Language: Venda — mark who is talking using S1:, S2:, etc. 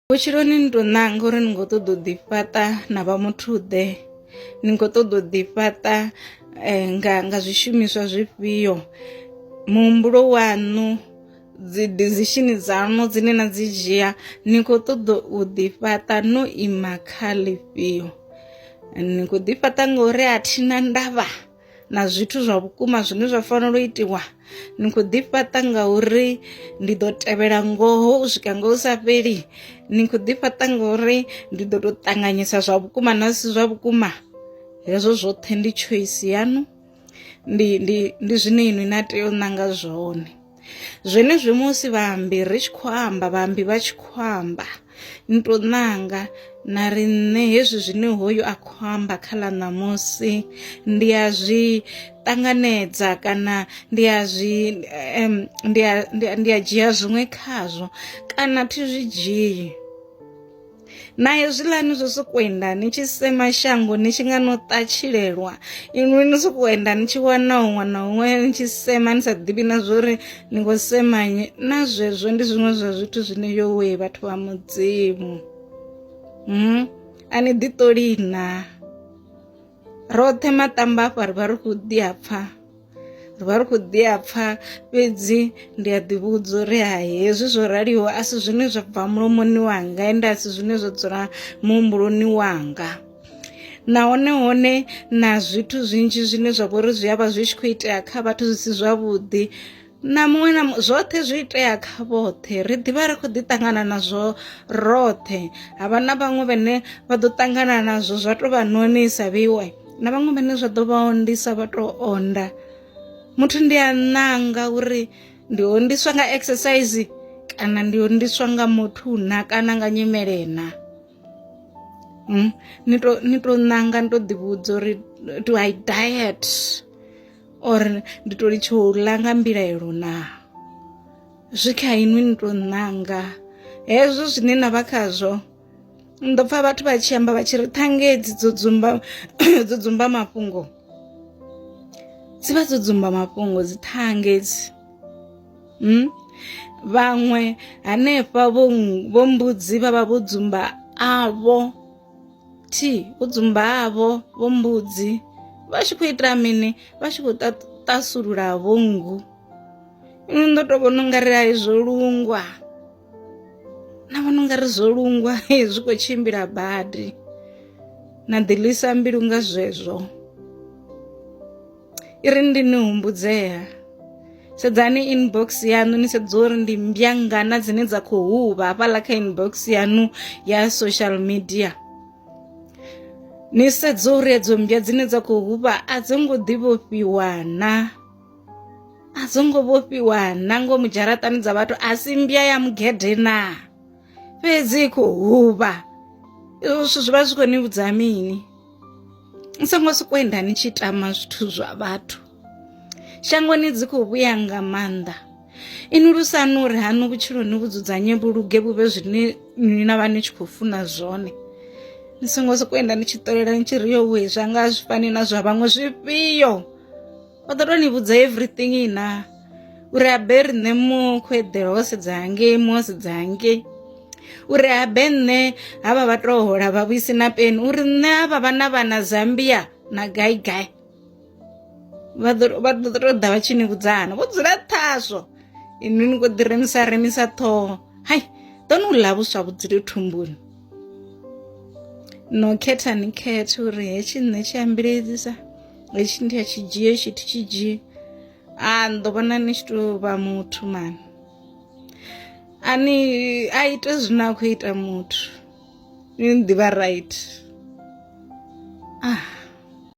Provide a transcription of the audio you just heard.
S1: vhutshiloni ni to ṋanga uri ni khou ṱoḓa u ḓi fhaṱa na vha muthu ḓe ni khou ṱoḓa u ḓi fhaṱa eh, nga nga zwishumiswa zwifhio muhumbulo waṋu dzi decision dzaṋu dzine na dzi dzhia ni khou ṱoḓa u ḓi fhaṱa no ima kha ḽifhio ni khou ḓi fhaṱa ngori a thina ndavha na zwithu zwa vhukuma zwine zwa fanela u itiwa ni khou ḓifhaṱa nga uri ndi ḓo tevhela ngoho u swika ngoho sa fheli ni khou ḓifhaṱa nga uri ndi ḓo tou ṱanganyisa zwa vhukuma na si zwa vhukuma hezwo zwoṱhe ndi choice yanu ndi ndi ndi zwine inwi na tea u ṋanga zwone zwenezwi musi vhaambi ri tshi khou amba vhaambi vha tshi khou amba ni tou ṋanga na ri nṋe hezwi zwine hoyu a khou amba kha ḽa ṋamusi ndi a zwi ṱanganedza kana ndi a zwi ndi a dzhia zwiṅwe khazwo kana thi zwi dzhii na hezwiḽani zwo sokou enda ni tshi sema shango ni tshi nga no ṱatshilelwa inwi ni sokou enda ni tshi wana huṅwe na huṅwe ni tshi sema ni sa ḓivhi na zwo ri ni ngo semanye na zwezwo ndi zwiṅwe zwa zwithu zwine yo wee vhathu vha mudzimu hmm? a ni ḓiṱoli naa roṱhe maṱamba afha ri vha ri khou ḓi a pfha ri vha ri khou ḓi a pfha fhedzi ndi a ḓivhudza uri hai hezwi zwo raliho a si zwine zwa bva mulomoni wanga ende a si zwine zwa dzula muhumbuloni wanga nahone hone na zwithu zwinzhi zwine zwa vha uri zwi a vha zwi tshi khou itea kha vhathu zwi si zwavhuḓi na muṅwe na zwoṱhe zwi itea kha vhoṱhe ri ḓivha ri khou ḓi ṱangana nazwo roṱhe ha vha na vhaṅwe vhane vha ḓo ṱangana nazwo zwa tou vha noni sa vhiwe na vhaṅwe vhane zwa ḓo vha ondisa vha tou onda muthu ndi a ṋanga uri ndi ondiswa nga exercise kana ndi ondiswa nga muthu na kana nga nyimele na hmm? ni to ni to nanga ni to ḓivhudza uri do i diet or ndi to litsha u ḽa nga mbilaelo na zwi kha inwi ni to ṋanga hezwo zwine na vha khazwo ndo pfa vhathu vha tshi amba vha tshi ri ṱhangedzi dzo dzumba dzo dzumba mafhungo dzi vha dzo dzumba mafhungo dzi ṱhangedzi mm? vhaṅwe hanefha vho vho mbudzi vha vha vho dzumba avho thi ho dzumbahavho vho mbudzi vha tshi khou ita mini vha tshi khou ṱasulula vho nngu ini ndo to vhona ungari hai zwo lungwa na vhona ungari zwo lungwa zwi khou tshimbila badi na ḓilisa mbilu nga zwezwo i ri ndi ni humbudzea sedzani inbox yanu ni sedza uri ndi mbyangana dzine dza khou huvha hafhaḽa kha inbox yanu ya social media ni sedza uri edzo mmbya dzine dza khou huvha a dzo ngo ḓi vhofhiwa na a dzo ngo vhofhiwa na ngo mudzharaṱani dza vhathu a si mmbya ya mugede na fhedzi i khou huvha izwo zwithu zwi vha zwi khou ni vhudza mini ni songo sokou enda ni tshi tama zwithu zwa vhathu shangoni dzi khou vhuya nga maanḓa ini lusani uri hanu vhutshiloni vhu dzudzanye vhuluge vhu vhe zwine ni na vha ni tshi khou funa zwone ni songo sokou enda ni tshi ṱolela ni tshi ri yo hezwa nga zwifani na zwa vhaṅwe zwifhio vha ḓo tou ni vhudza everything na uri habe ri nṋe mu khou eḓela wo sedza hangei mu wo sedza hangei uri habe nṋe havha vha tou hola vha vhuisi na peni uri nṋe havha vha na vhana zambia na gai gai vha ḓo vha ḓo tou ḓa vha tshi ni vhudza hana vho dzula thazwo inwi ni khou ḓi remisa remisa ṱhoho hai ḓo ni u ḽa vhuswa vhudzile thumbuni no khetha ni khethe uri hetshi nṋe tshi ambeledzisa hetshi ndi a tshi dzhie hetshi thi tshi dzhie a ah, ni ḓo vhona ni tshi tou vha muthu mani ani a ite zwine a khou ita muthu ni ḓivha right ah